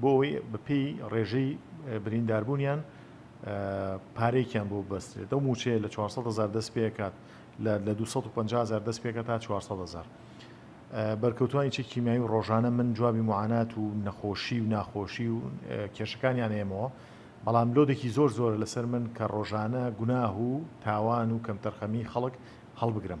بۆ ئەوەی بەپێی ڕێژەی برینداربوونیان پارەیەکیان بۆ ببەسترێت ئەو موچەیە لە 400 هزار دەست پێکات لە 250 هزار دەست پێکە تا 400 هزار بەرکەوتوانی چی کیمیایی و ڕۆژانە من جوابی معانات و نەخۆشی و ناخۆشی و کێشەکانیان ئێمەوە بەڵام لۆدێکی زۆر زۆر لەسەر من کە ڕۆژانە گوناه و تاوان و کەمتەرخەمی خەڵک هەڵبگرم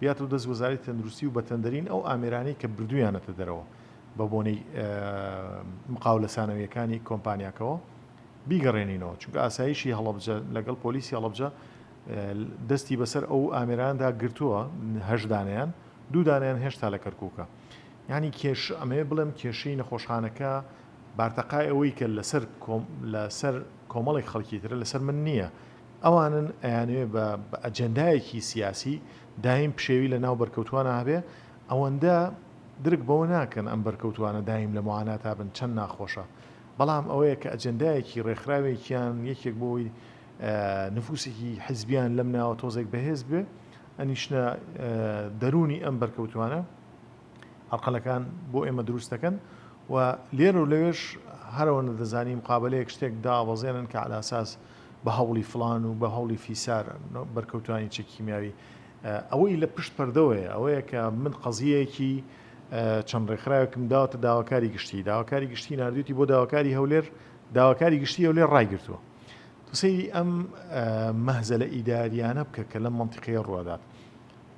بیات و دەست وزاری تەندروستی و بەتەندرین ئەو ئامێرانەی کە بردوویانەتە دەرەوە بە بۆنەی مقاولە سانەویەکانی کۆمپانیاکەوە بیگەڕێنینەوە چونکە ئاسایشی هەڵبجە لەگەڵ پۆلیسی هەڵبجە دەستی بەسەر ئەو ئامێراندا گرتووە هەشدانیان دوودانیان هێشتا لە کەرکووکە ینی کێش ئەمێ بڵێم کێشەی نەخۆشخانەکە بارتەقای ئەوەی کە لەسەر لەسەر کۆمەڵێک خەڵکی ترە لەسەر من نییە ئەوانن ئەیانەوێ بە بە ئەجێندایەکی سیاسی دایم پشێوی لە ناو بەرکەوتووانا هەبێ، ئەوەندە درک بەوە ناکەن ئەم بەرکەوتووانە دایم لە موعاناتا بن چەند ناخۆشە، بەڵام ئەوەیە کە ئەجێندایەکی رێکخراوێکیان یەکێک بۆ ئەوەی نفووسێکی حیزبییان لەم ناوە تۆزێک بەهێز بێ ئەنیشنە دەروونی ئەم بەرکەوتووانە. ئەرقەلەکان بۆ ئێمە دروست دەکەن و لێرە و لەوێش هەرەوەندە دەزانی مقابەلەیەک شتێک دابەزێنن کە على اساس بە هەوڵی فلان و بە هەوڵی فیسار بەرکەوتانی چەکی کیمیاوی ئەوەی لە پشت پەردەوەیە ئەوەیە کە من قەزیەکی چەند ڕێکخراوێکم داوەتە داواکاری گشتی داواکاری گشتی نردویتی بۆ داواکاری هەولێر داواکاری گشتی هەولێر ڕایگرتووە تو سەیری ئەم مەهزە لە ئیداریانە بکە کە لەم منتیقەیە ڕوادات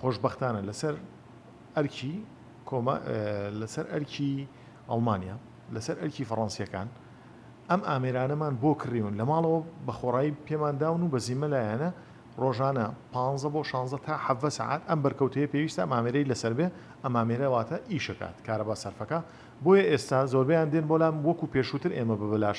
خۆشبەختانە لەسەر ئەرکی کۆما لەسەر ئەرکی ئەڵمانیا لەسەر ئەرکی فەڕەنسییەکان ئەم ئامێرانەمان بۆ کڕیون لە ماڵەوە بە خۆڕایی پێمان داون و بە زیمە لایەنە ڕۆژانە پ بۆ 16 تا حەڤە سعات ئەم بەرکەوتەیە پێویستە مامێرەی لەسەر بێ ئەمامێرەواتە ئیشەکات کارەبا سەرفەکە بۆیە ئێستا زۆربیان دێن بۆ لام وەکو پێشووتر ئێمە بە بەلاش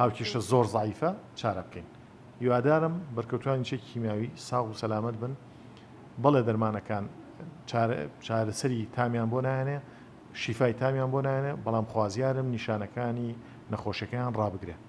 هاوکیشە زۆر زعیفە چارە بکەین هیوادارم بەرکەوتوانی چێکی کیمیاوی ساغ و سەلامت بن بەڵێ دەرمانەکان چارەسەری تامیان بۆ نایەنێ شیفای تامیان بۆ نایەنێ بەڵام خوازیارم نیشانەکانی نەخۆشەکەیان ڕابگرێ